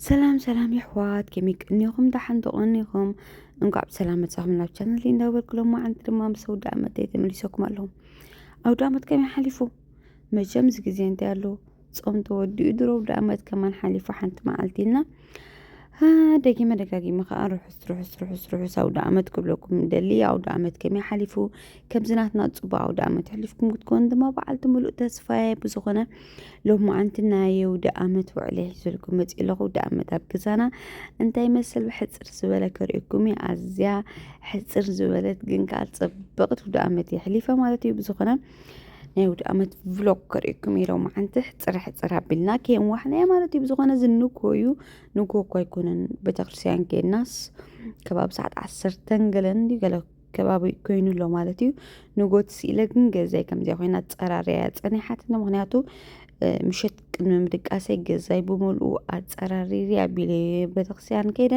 ሰላም ሰላም የሕዋት ከመይ ቅኒኹም ደሓን ዶ ቅኒኹም እንኳዕ ብሰላም መጻኹም ናብ ቻነል እንዳበልኩ ሎማዓንቲ ድማ ምስ ኣውደ ኣመተይ ተመሊሰኩም ኣለኹ ኣውደ ኣመት ከመይ ሓሊፉ መቸም እዚ ግዜ እንታይ ኣሎ ጾም ተወዲኡ ድሮ ኣውደ ኣመት ከማን ሓሊፉ ሓንቲ መዓልቲ እና ደጊመ ደጋጊመ ከዓ ርሑስ ርሑስ ርሑስ ርሑስ ኣውደ ኣመት ክብለኩም ደሊ ኣውደ ኣመት ከመይ ሓሊፉ ከምዚ ናትና ፅቡቅ ኣውደ ኣመት ሕሊፍኩም ክትኮኑ ድማ በዓልቲ ሙሉእ ተስፋየ ብዝኾነ ሎማዓንቲ ናይ ኣውደኣመት ውዕለይ ሒዘልኩም መፂኤ ኣለኹ። ኣውደኣመት ኣብ ገዛና እንታይ ይመስል ብሕፅር ዝበለ ከርእየኩም እየ። ኣዝያ ሕፅር ዝበለት ግን ከዓ ፅብቕቲ ኣውደኣመት እየ ሕሊፈ ማለት እዩ። ብዝኾነ ናይ ኣውደኣመት ቭሎግ ከርእየኩም እየ ሎማዓንቲ ሕፅር ሕፅር ኣቢልና ከየንዋሕናዮ ማለት እዩ። ብዝኾነ እዚ ንግሆ እዩ ንግሆ እኮ ኣይኮነን ቤተክርስትያን ከይድናስ ከባቢ ሰዓት ዓሰርተን ገለን እንዲዩ ገለ ከባቢ ኮይኑ ኣሎ ማለት እዩ ንጎት ስኢለ ግን ገዛይ ከምዚያ ኮይና ኣፀራርያ ፀኒሓትኒ ምክንያቱ ምሸት ቅድሚ ምድቃሰይ ገዛይ ብምልኡ ኣፀራሪሪ ኣቢለ ቤተክርስትያን ከይደ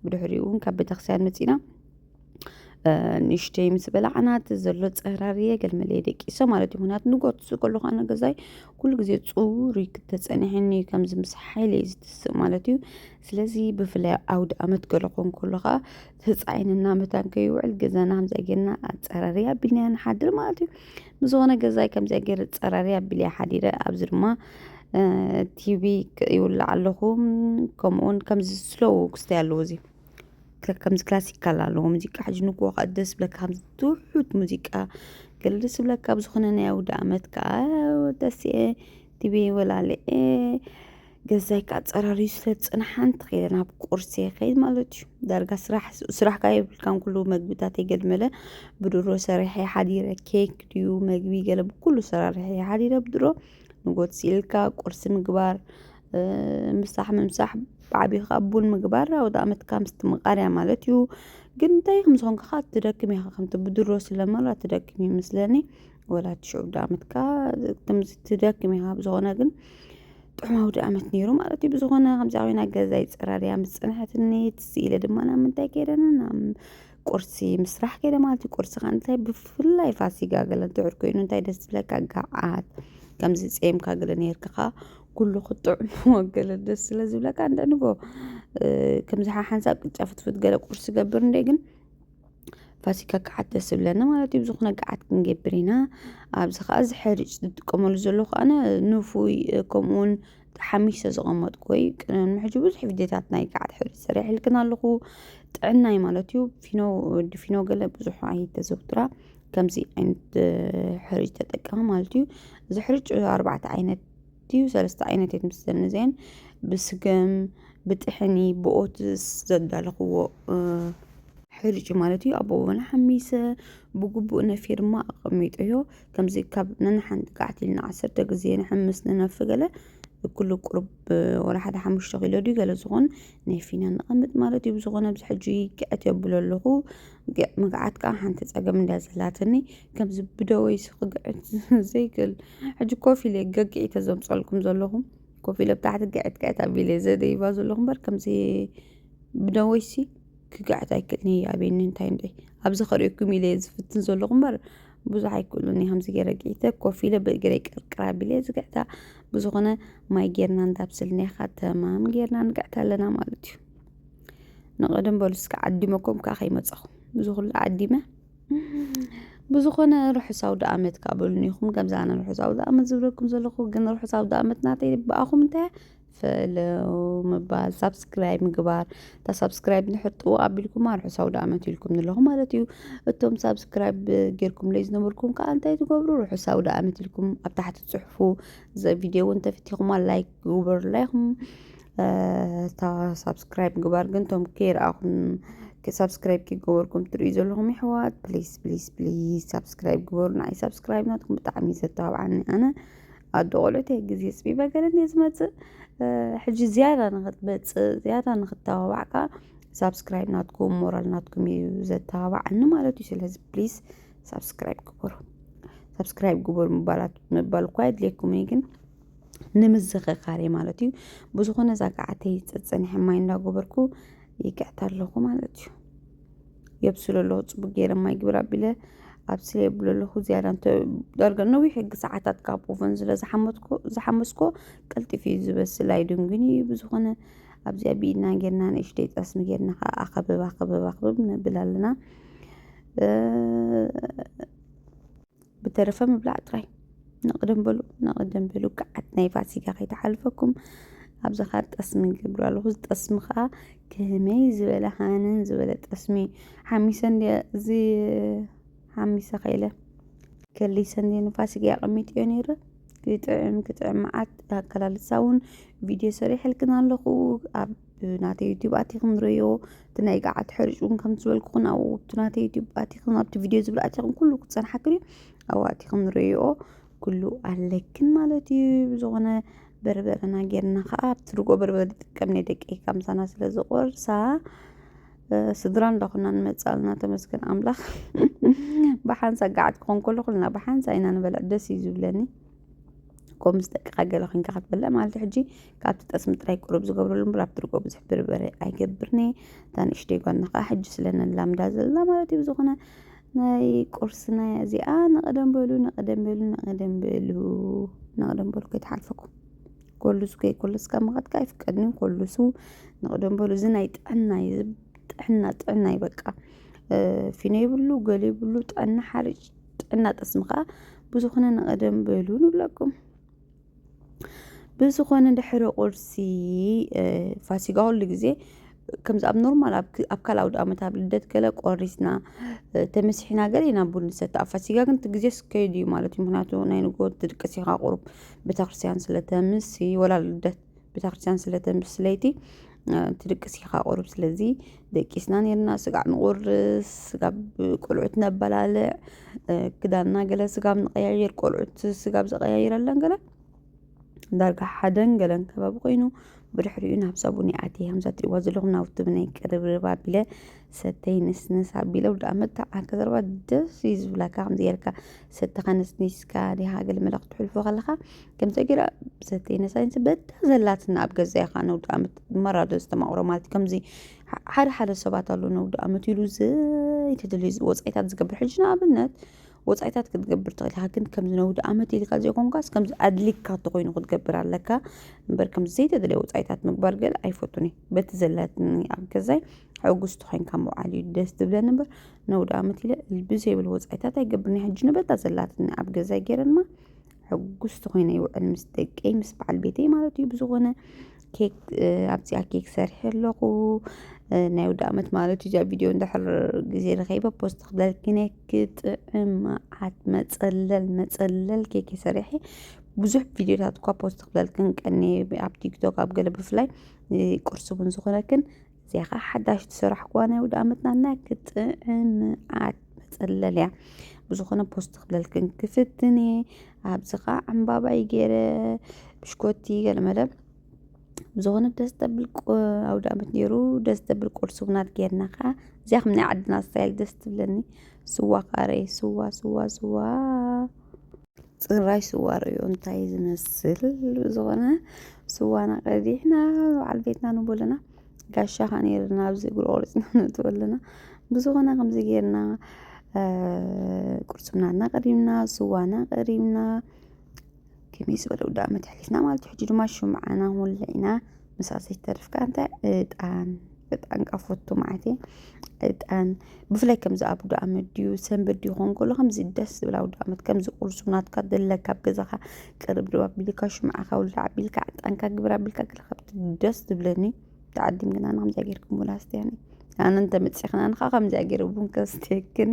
ብድሕሪኡ እውን ካብ ቤተክርስትያን መፂና ንእሽተይ ምስ በላዕና እቲ ዘሎ ፀራርየ ገልመለየ ደቂሰ ማለት እዩ ምክንያቱ ንጎት ሱ ከለኩ ኣነ ገዛይ ኩሉ ግዜ ፅሩይ ክተፀኒሐኒ ከምዚ ምስ ሓይለ እዩ ዝትስእ ማለት እዩ ስለዚ ብፍላይ ኣውድ ኣመት ገለ ኮን ከሎ ከዓ ህፃይን እና መታን ከይውዕል ገዛና ከምዚኣ ጌርና ኣፀራርያ ኣቢልና ንሓድር ማለት እዩ ንዝኾነ ገዛይ ከምዚኣ ጌር ፀራርያ ኣቢልያ ሓዲረ ኣብዚ ድማ ቲቪ ይውላዕ ኣለኹ ከምኡውን ከምዚ ስሎው ክስተይ ኣለዎ እዚ ከምዚ ክላሲካል ኣለዎ ሙዚቃ ሕጂ ንግሆ ከዓ ደስ ብለካ ከምዚ ትውሑድ ሙዚቃ ገለ ደስ ብለካ ብዝኾነ ናይ ኣውደ ኣመት ከዓ ደስ እየ ቲቪ ወላልየ ገዛይ ከዓ ፀራርዩ ስለ ዝፅንሓ እንተኸይደ ናብ ቁርሲ ይኸይድ ማለት እዩ ዳርጋ ስራሕ ስራሕ ከዓ የብልካን ኩሉ መግብታት የገልመለ ብድሮ ሰሪሐ ሓዲረ ኬክ ድዩ መግቢ ገለ ብኩሉ ሰራርሐ ሓዲረ ብድሮ ንጎት ሲኢልካ ቁርሲ ምግባር እ፣ ምሳሕ ምምሳሕ ብዓብዩ ከዓ ቡን ምግባር ኣውደ ኣመትካ ምስ ትምቃርያ ማለት እዩ ግን እንታይ ከም ዝኾንካ ከዓ ትደክም ኢኻ ከምቲ ብድሮ ስለመራ ትደክም እዩ ምስለኒ ወላ ትሽዑ ዓመትካ ከምዚ ትደክም ኢኻ ብዝኾነ ግን ጥዑም ኣውዲ ዓመት ነይሩ ማለት እዩ ብዝኾነ ከምዚ ኮይና ገዛ ይፀራርያ ምስ ፅንሐትኒ ትዝ ኢለ ድማ ናብ ምንታይ ከይደን ናብ ቁርሲ ምስራሕ ከይደ ማለት እዩ ቁርሲ ከዓ እንታይ ብፍላይ ፋሲጋ ገለ እንትዕር ኮይኑ እንታይ ደስ ዝብለካ ገዓት ከምዚ ፀምካ ገለ ነይርካ ከዓ ኩሉ ክጥዑም ወገለ ደስ ስለ ዝብለካ እንደ ንጎ ከምዚ ሓሓንሳብ ቅጫ ፍትፍት ገለ ቁርሲ ገብር እንደ ግን ፋሲካ ገዓት ደስ ዝብለኒ ማለት እዩ ብዝኾነ ገዓት ክንገብር ኢና ኣብዚ ከዓ እዚ ሕርጭ ዝጥቀመሉ ዘሎ ከዓነ ንፉይ ከምኡ እውን ሓሚሽ ዝተቐመጥኩ ወይ ቅድሚ ሕጂ ብዙሕ ቪድዮታት ናይ ገዓት ሕርጭ ሰሪሐልክን ኣለኹ ጥዕናይ ማለት እዩ ፊኖ ወዲ ፊኖ ገለ ብዙሕ ኣይተዘውትራ ከምዚ ዓይነት ሕርጭ ተጠቀሚ ማለት እዩ እዚ ሕርጭ ኣርባዕተ ዓይነት ድዩ ሰለስተ ዓይነት እየን ምስዘን እዚኣን ብስገም ብጥሕኒ ብኦትስ ዘዳለኽዎ ሕርጭ ማለት እዩ ኣቦ ወና ሓሚሰ ብግቡእ ነፊ ድማ ኣቐሚጦ እዮ ከምዚ ካብ ነንሓንቲ ቃዕቲ ኢልና ዓሰርተ ግዜ ንሕምስ ንነፊ ገለ ኩሉ ቁሩብ ወላ ሓደ ሓሙሽተ ኪሎ ድዩ ገለ ዝኾን ነፊና ንቐምጥ ማለት እዩ ብዝኾነ ኣብዚ ሕጂ ግዕት የብሎ ኣለኹ ምግዓት ከዓ ሓንቲ ፀገም እንድያ ዘላትኒ ከምዚ ብደወይሲ ክግዕት ዘይክእል ሕጂ ኮፍ ኢለ ገግዒ ተዘምፀልኩም ዘለኹም ኮፍ ኢለ ብታሕቲ ግዕት ግዕት ኣቢለ ዘደይባ ዘለኹም እምበር ከምዚ ብደወይሲ ክግዕት ኣይክእልን እየ ኣበይኒ እንታይ እንድዒ ኣብዚ ከርእየኩም ኢለ እየ ዝፍትን ዘለኹ እምበር ብዙሕ ኣይክእሉን እየ ከምዚ ገይረ ግዒተ ኮፍ ኢለ ብእግረይ ቅርቅር ኣቢለ እየ ዝግዕታ ብዝኾነ ማይ ጌርና እንዳብስል ኔኻ ተማም ጌርና ንግዕት ኣለና ማለት እዩ ንቐደም በሉ እስከ ዓዲመኩም ከዓ ከይመፀኹም እዚ ኩሉ ዓዲመ ብዝኾነ ርሑስ ኣውድኣመት ክኣ በሉኒ ኢኹም ከምዚ ኣነ ርሑስ ኣውድኣመት ዝብለኩም ዘለኹ ግን ርሑስ ኣውድኣመት ናተይ ብኣኹም እንታይ እያ ፈለው ምባል ሳብስክራይብ ምግባር እታ ሳብስክራይብ እንድሕር ጥውቕ ኣቢልኩማ ርሑስ ኣውድኣመት ኢልኩምኒ ኣለኹ ማለት እዩ እቶም ሳብስክራይብ ጌርኩምለይ ዝነበርኩም ክኣ እንታይ ትገብሩ ርሑስ ኣውድኣመት ኢልኩም ኣብ ታሕቲ ትጽሕፉ እዚ ቪድዮ እውን ተፈቲኹማ ላይክ ግቡርለይ ኹም እታ ሳብስክራይብ ግባር ግን ቶም ከይረኣኹም ሳብስክራይብ ከይገበርኩም ትርእዩ ዘለኹም ይሕዋት ፕሊስ ፕሊስ ፕሊስ ሳብስክራይብ ግበሩ ንዓይ ሳብስክራይብ ናትኩም ብጣዕሚ እዩ ዘተባብዓኒ ኣነ ኣዶ ቆልዑት እየ ግዜ ፅቢበ ገለን እየ ዝመፅእ ሕጂ ዝያዳ ንክትመፅእ ዝያዳ ንክተባባዕ ከዓ ሳብስክራይብ ናትኩም ሞራል ናትኩም እዩ ዘተባብዓኒ ማለት እዩ ስለዚ ፕሊስ ሳብስክራይብ ግበሩ ሳብስክራይብ ግበሩ ምባላት ምባል እኳ የድልየኩም እዩ ግን ንምዝኸኻር እየ ማለት እዩ ብዝኾነ እዛ ገዓተይ ፀፀኒሐ ማይ እንዳጎበርኩ ይቅዕታ ኣለኹ ማለት እዩ የብስሎ ኣለኹ ፅቡቅ ገይረ ማይ ግብር ኣቢለ ኣብስለ የብሎ ኣለኹ ዝያዳ እንተ ዳርጋ ነዊሕ ሕጊ ሰዓታት ካብ ኦቨን ስለ ዝሓመትኩ ዝሓመስኮ ቀልጢፍ እዩ ዝበስል ኣይድንግን እዩ ብዝኾነ ኣብዚኣ ብኢድና ጌርና ንእሽተይ ጠስሚ ጌርና ከዓ ኣኸብብ ኣኸብብ ኣኸብብ ነብል ኣለና ብተረፈ ምብላዕ ጥራይ ንቕድም በሉ ንቕድም በሉ ገዓት ናይ ፋሲካ ከይተሓልፈኩም ኣብዚ ኸ ጠስሚ ይገብሩ ኣለኹ እዚ ጠስሚ ከዓ ከመይ ዝበለ ሃንን ዝበለ ጠስሚ ሓሚሰ እንዲ እዚ ሓሚሰ ከይለ ከሊሰ እንዲ ንፋሲካ ኣቐሚጥዮ ነይረ ክጥዕም ክጥዕም መዓት ኣከላልሳ እውን ቪድዮ ሰሪሐልክን ኣለኹ ኣብ ናተይ ዩቲዩብ ኣቲኹም ንርእዮ እቲ ናይ ገዓት ሕርጭ እውን ከምቲ ዝበልኩኹን ኣብኡ እቲ ናተይ ዩቲዩብ ኣቲኹም ኣብቲ ቪድዮ ዝብል ኣቲኹም ኩሉ ክፀንሓክን እዩ ኣብኡ ኣቲኹም ንርእዮ ኩሉ ኣለክን ማለት እዩ ብዝኾነ በርበረና ጌርና ከዓ ኣብቲ ርጎ በርበረ ዝጥቀም ናይ ደቂ ከምሳና ስለ ዝቆርሳ ስድራ እንዳኹና ንመፃልና ተመስገን ኣምላኽ ብሓንሳ ገዓት ክኾን ከሎ ኩልና ብሓንሳ ኢና ንበልዕ ደስ እዩ ዝብለኒ ከምኡ ምስ ደቅኻ ገለ ኮንካ ክትበልዕ ማለት ሕጂ ካብቲ ጠስሚ ጥራይ ቁሩብ ዝገብረሉ እምበር ኣብቲ ርግኦ ብዙሕ ብርበረ ኣይገብርን እየ እታ ንእሽተይ ጓልና ከዓ ሕጂ ስለ ነላምዳ ዘለና ማለት እዩ ብዝኾነ ናይ ቁርስና እያ እዚኣ ንቐደም በሉ ንቐደም በሉ ንቐደም በሉ ንቐደም በሉ ከይተሓልፈኩም ኮሉሱ ከይኮለስ ካብ ምኻድካ ኣይፍቀድን እዩ ኮሉሱ ንቐደም በሉ እዚ ናይ ጥዕና እዩ እዚ ጥዕና ጥዕና እዩ በቃ እ፣ ፊኖ ይብሉ ገለ ይብሉ ጥዕና ሓርጭ ጥዕና ጠስሚ ከዓ ብዙኾነ ንቐደም በሉ ንብለኩም ብዝኾነ ድሕሪ ቁርሲ ፋሲጋ ኩሉ ግዜ ከምዚ ኣብ ኖርማል ኣብ ካልእ ኣውድኣመት ኣብ ልደት ገለ ቆሪስና ተመሲሕና ገለ ኢና ቡን ንሰቲ ኣብ ፋሲጋ ግን እቲ ግዜ ስከይድ እዩ ማለት እዩ ምክንያቱ ናይ ንግሆ ትድቅስ ኢካ ቁሩብ ቤተክርስትያን ስለተምሲ ወላ ልደት ቤተክርስትያን ስለተምሲ ለይቲ ትድቅስ ኢኻ ቁሩብ ስለዚ ደቂስና ኔርና ስጋዕ ንቑርስ ስጋብ ቆልዑት ነበላልዕ ክዳንና ገለ ስጋብ ንቀያየር ቆልዑት ስጋብ ዘቀያይረለን ገለ ዳርጋ ሓደን ገለን ከባቢ ኮይኑ ብድሕሪኡ ናብ ሳቡን ይኣቲ ከምዛ ትሪእዋ ዘለኹም ናብቲ ብናይ ቅርብርብ ኣቢለ ሰተይ ንስንስ ኣቢለ ወዲ ኣመት ተዓከ ዘረባ ደስ እዩ ዝብላካ ከምዚ ጌርካ ሰተኻ ነስኒስካ ዲኻ ገለ መለ ክትሕልፎ ከለኻ ከምዚ ጌራ ብሰተይ ነሳይንሲ በታ ዘላትና ኣብ ገዛ ኢኻ ነውዲ ኣመት መራዶ ዝተማቕሮ ማለት ከምዚ ሓደ ሓደ ሰባት ኣሉ ነውዲ ኣመት ኢሉ ዘይተደልዩ ወፃኢታት ዝገብር ሕጂ ንኣብነት ወፃኢታት ክትገብር ትኽእል ኢኻ ግን ከምዚ ነውዲ ኣመት ኢልካ ዘይኮንካስ ከምዚ ኣድሊካ ተኮይኑ ክትገብር ኣለካ እምበር ከምዚ ዘይተደለየ ወፃኢታት ምግባር ገለ ኣይፈቱን እዩ በቲ ዘላትኒ ኣብ ገዛይ ሕጉስቲ ኮይንካ ምውዓል እዩ ደስ ዝብለኒ እምበር ነውዳመት ኢለ ብዘይብል ወጻኢታት ኣይገብርን እየ ሕጂ ንበታ ዘላትኒ ኣብ ገዛይ ገይረ ድማ ሕጉስቲ ኮይነ ይውዕል ምስ ደቀይ ምስ በዓል ቤተይ ማለት እዩ ብዝኾነ ኬክ ኣብዚኣ ኬክ ሰርሐ ኣለኹ ናይ ውዳመት ማለት እዩ እዚኣ ቪድዮ እንድሕር ግዜ ረኸይበ ፖስት ክደልክነ ክጥዕም መዓት መፀለል መፀለል ኬክ ሰሪሐ ብዙሕ ቪድዮታት እኳ ፖስት ክደልክን ቀኒ ኣብ ቲክቶክ ኣብ ገለ ብፍላይ ቁርሲ እውን ዝኾነክን እዚኣ ኸዓ ሓዳሽ ዝሰራሕኩዋ ናይ ውድኣመትና ናይ ክጥዕምዓት መጸለል እያ ብዝኾነ ፖስት ክብለልክን ክፍትን እየ ኣብዚ ኸዓ ዕምባባይ ገይረ ብሽኮቲ ገለመለ ብዝኾነ ደስ ተብል ኣውድኣመት ነይሩ ደስ ተብል ቁርሲ ውናት ጌርና ኸዓ እዚኣ ከም ናይ ዓድና ስታይል ደስ ትብለኒ ስዋ ኸዓ ርኤ ስዋ ስዋ ስዋ ፅራይ ስዋ ርእዮ እንታይ ዝመስል ብዝኾነ ስዋና ቀዲሕና በዓል ቤትና ንብሎ ኣለና ጋሻ ኻዓ ነይሩና ኣብዚ እግሩ ቆሪፅና ነእትዎ ኣለና ብዝኾነ ከምዚ ጌርና ቁርስናና ቀሪብና ስዋና ቀሪብና ከመይ ዝበለ ውዳበ ኣሕሊፍና ማለት እዩ ሕጂ ድማ ሽምዓና ወሊዕና ምስኣ ዘይተርፍ ከኣ እንታይ እጣን እጣን ካብ ፈቱ መዓት እየ እጣን ብፍላይ ከምዚ ኣብ ውዳ ኣመት ድዩ ሰንበት ድዩ ኾን ከሎ ከምዚ ደስ ዝብል ኣብ ውዳ ኣመት ከምዚ ቁርሱ ናትካ ዘለካ ኣብ ገዛኻ ቅርብ ድባ ኣቢልካ ሽምዓኻ ውልዳ ኣቢልካ ዕጣንካ ግብር ኣቢልካ ገለ ካብቲ ደስ ዝብለኒ ተዓዲም ግና ንከምዚኣ ጌርክ ቡን ኣስትያኒ ኣነ እንተመፂኽና ንኻ ከምዚኣ ገይረ ቡን ከስትየክኒ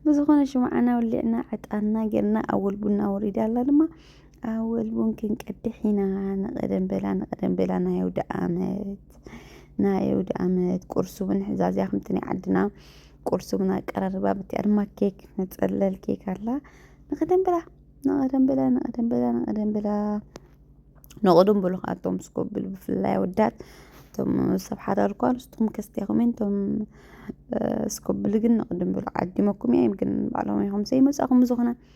ብዝኾነ ሽምዓና ውሊዕና ዕጣንና ጌርና ኣወል ቡና ወሪዳ ኣላ ድማ ኣወል ቡን ክንቀድሕ ኢና ንቐደም በላ ንቐደም በላ ናይ ኣውደኣመት ናይ ኣውደኣመት ቁርሲ እውን ሕዛ እዚኣ ከምቲ ናይ ዓድና ቁርሲ እውን ኣቀራርባ ብቲኣ ድማ ኬክ ነፀለል ኬክ ኣላ ንቐደም በላ ንቐደም በላ ንቐደም በላ ንቐደም በላ ንቐደም በሉ ከዓ እቶም ስኮብል ብፍላይ ኣወዳት እቶም ሰብ ሓዳር እኳ ንስኹም ከስቲኹም እንቶም ስኮብል ግን ንቐደም በሉ ዓዲመኩም እዮም ግን ባዕሎም ይኹም ዘይመፃኹም ዝኾነ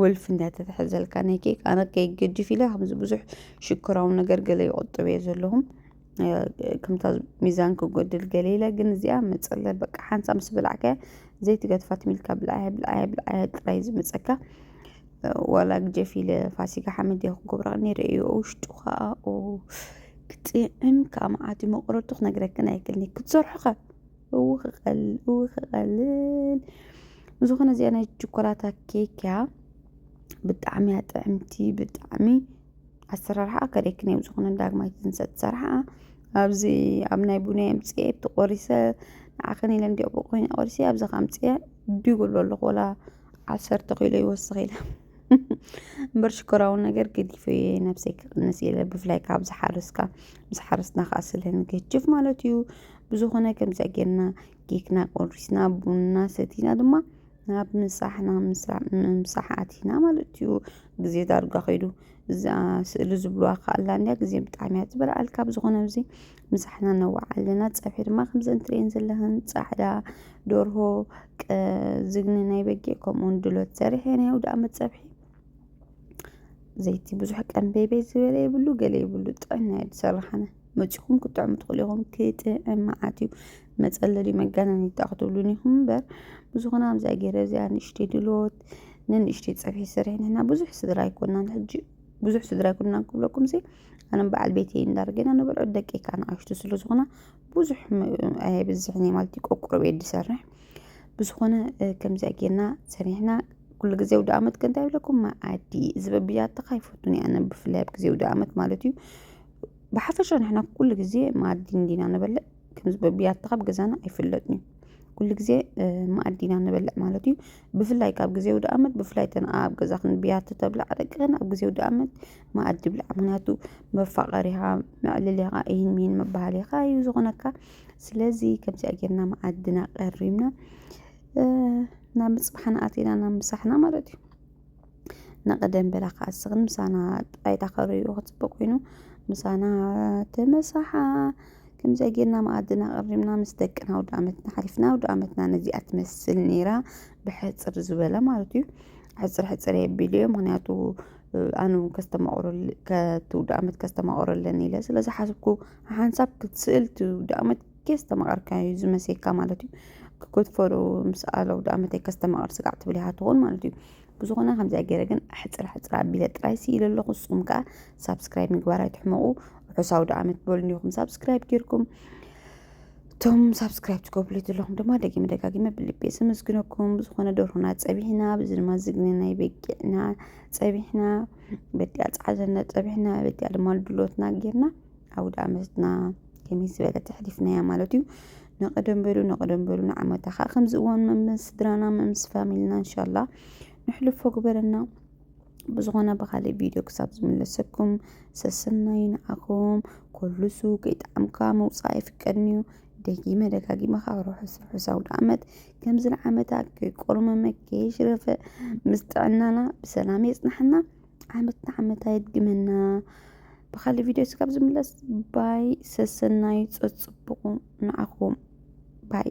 ወልፊ እንዳተተሐዘልካ ናይ ኬክ ኣነ ኬክ ገዲፍ ኢለ ከምዚ ብዙሕ ሽኮራዊ ነገር ገለ ይቆጥብ እየ ዘለኹ ከምታ ሚዛን ክጎድል ገለ ኢለ ግን እዚኣ መፀለ በቃ ሓንሳ ምስ በላዕካያ ዘይትገድፋ ትሚልካ ብልዓያ ብልዓያ ብልዓያ ጥራይ ዝመፀካ ዋላ ግጀፍ ኢለ ፋሲካ ሓመድ እየ ክገብራ ነይረ እዩ ውሽጡ ከዓ ክጥዕም ከዓ መዓት መቁረቱ ክነግረክን ኣይክልኒ ክትሰርሑ ከ እው ክቐልል እው ክቐልል ብዝኾነ እዚኣ ናይ ችኮላታ ኬክ እያ ብጣዕሚ እያ ጥዕምቲ ብጣዕሚ ኣሰራርሓ ከሪክን እዮም ዝኾነ ዳግማይ ትንሳእ ትሰርሓ ኣብዚ ኣብ ናይ ቡነ ኣምፅኤ እቲ ቆሪሰ ንዓኽን ኢለ እንዲኦ ብኮይነ ቆሪሰ ኣብዚ ከምፅኤ ዲጉ ኣሎ ኣለኹ ወላ ዓሰርተ ኪሎ ይወስኽ ኢለ እምበር ሽኮራዊ ነገር ገዲፈ እየ ነብሰይ ክቕንስ ኢለ ብፍላይ ካብ ዝሓረስካ ምስ ሓረስትና ከዓ ስለ ንገጅፍ ማለት እዩ ብዝኾነ ከምዚኣ ጌርና ኬክና ቆሪስና ቡንና ሰቲና ድማ ናብ ምሳሕና ምምሳሕ ኣቲና ማለት እዩ ግዜ ዳርጋ ከይዱ እዛ ስእሊ ዝብልዋ ከኣላ እንድያ ግዜ ብጣዕሚ እያ ትበልዓልካ ብዝኾነ እዚ ምሳሕና ነዋዕ ኣለና ፀብሒ ድማ ከምዘን ትርእየን ዘለኽን ፃዕዳ ዶርሆ ዝግኒ ናይ በጊዕ ከምኡውን ድሎት ሰሪሐ ናይ ውድኣ መፀብሒ ዘይቲ ብዙሕ ቀንበይበይ ዝበለ የብሉ ገለ የብሉ ጥዕና እዩ ዝሰራሕነ መፂኹም ክጥዕሙ ትኽእሉ ኢኹም ክጥዕም መዓት እዩ መፀለሊ መጋነን ይጣ ክትብሉን ኢኹም እምበር ብዙኹን ኣብዛ ገይረ እዚኣ ንእሽተይ ድሎት ንንእሽተይ ፀብሒ ሰሪሐ ንሕና ብዙሕ ስድራ ኣይኮናን ሕጂ ብዙሕ ስድራ ኣይኮናን ክብለኩም ሲ ኣነም በዓል ቤተይ እንዳርገና ንበልዑ ደቀይ ከዓ ንኣሽቱ ስለ ዝኾና ብዙሕ ኣየብዝሕን እየ ማለት እዩ ቆቁረብ እየ ዝሰርሕ ብዝኾነ ከምዚ ጌርና ሰሪሕና ኩሉ ግዜ ውድ ኣመት ከ እንታይ ይብለኩም መኣዲ እዚ በብያትኻ ይፈቱን እየ ኣነ ብፍላይ ኣብ ግዜ ውድ ኣመት ማለት እዩ ብሓፈሻ ንሕና ኩሉ ግዜ መኣዲ እንዲና ንበልዕ ክንስ ብያቲ ኻብ ገዛና ኣይፍለጥንዩ ኲሉ ጊዜ መኣዲ ኢና ንበልዕ ማለት እዩ ብፍላይ ካብ ጊዜ ውድኣመት ብፍላይ ተን ኣብ ገዛ ኽን ብያቲ ተብላዕ ደቅኽን ኣብ ጊዜ ውድኣመት መኣዲ ብላዕ ምክንያቱ መፋቐሪኻ መዕለሊኻ ኢሂን ሚሂን ምባህሊኻ እዩ ዝኾነካ ስለዚ ከምዚኣ ጌርና መኣድና ቀሪብና ናብ ምጽባሕና ኣቲና ናብ ምሳሕና ማለት እዩ። ንቐደም በላ ከዓ እስኽን ምሳና ጣይታ ከርእዩ ክፅበ ኮይኑ ምሳና ተመሳሓ ከምዚኣ ጌርና መኣድና ኣቐሪብና ምስ ደቅና ኣውደኣመት ሓሊፍና ኣውደኣመትና ነዚኣ ትመስል ነይራ ብሕፅር ዝበለ ማለት እዩ ሕፅር ሕፅር የቢሉ እየ ምክንያቱ ኣነ እውን ከስተማቕረሉ ከቲ ውደኣመት ከስተማቕረለን ኢለ ስለ ዝሓስብኩ ሓንሳብ ክትስእል እቲ ውደኣመት ከስተማቕርካ እዩ ዝመሴካ ማለት እዩ ክትፈሩ ምስ ኣለ ውደኣመተይ ከስተማቕር ስጋዕ ትብል እያ ትኾን ማለት እዩ ብዝኾነ ከምዚኣ ገይረ ግን ኣሕፅር ኣሕፅር ኣቢለ ጥራይ ስኢለ ኣለኹ ንስኹም ከዓ ሳብስክራይብ ምግባር ኣይትሕመቑ ርሑስ ኣውደኣመት በሉኒ ኢኹም ሳብስክራይብ ጌርኩም እቶም ሳብስክራይብ ትገብሉ ዘለኹም ድማ ደጊመ ደጋጊመ ብልቢ የሰመስግነኩም ብዝኾነ ደርሆና ፀቢሕና ብዚ ድማ ዝግነ ናይ በጊዕና ፀቢሕና በዲኣ ፀዓዘና ፀቢሕና በዲኣ ድማ ድሎትና ጌርና ኣውደኣመትና ከመይ ዝበለ ተሕሊፍናያ ማለት እዩ ነቐደም በሉ ነቐደም በሉ ንዓመታ ከዓ ከምዚ እዋን መምስ ስድራና መምስ ፋሚልና እንሻላ ንሕልፎ ግበረና ብዝኾነ ብኻሊእ ቪድዮ ክሳብ ዝምለሰኩም ሰሰናይ ንዓኹም ኮሉሱ ከይጣዕምካ ምውፃእ ኣይፍቀድን እዩ ደጊመ ደጋጊመ ካብ ርሑስ ርሑስ ኣውደ ዓመት ከምዚ ንዓመታ ከይቆርመመ ከይሽረፈ ምስ ጥዕናና ብሰላም የፅናሕና ዓመት ንዓመት ኣየድግመና። ብካልእ ቪድዮ ስጋብ ዝምለስ ባይ ሰሰናዩ ጸጽቡቑ ንዓኹም ባይ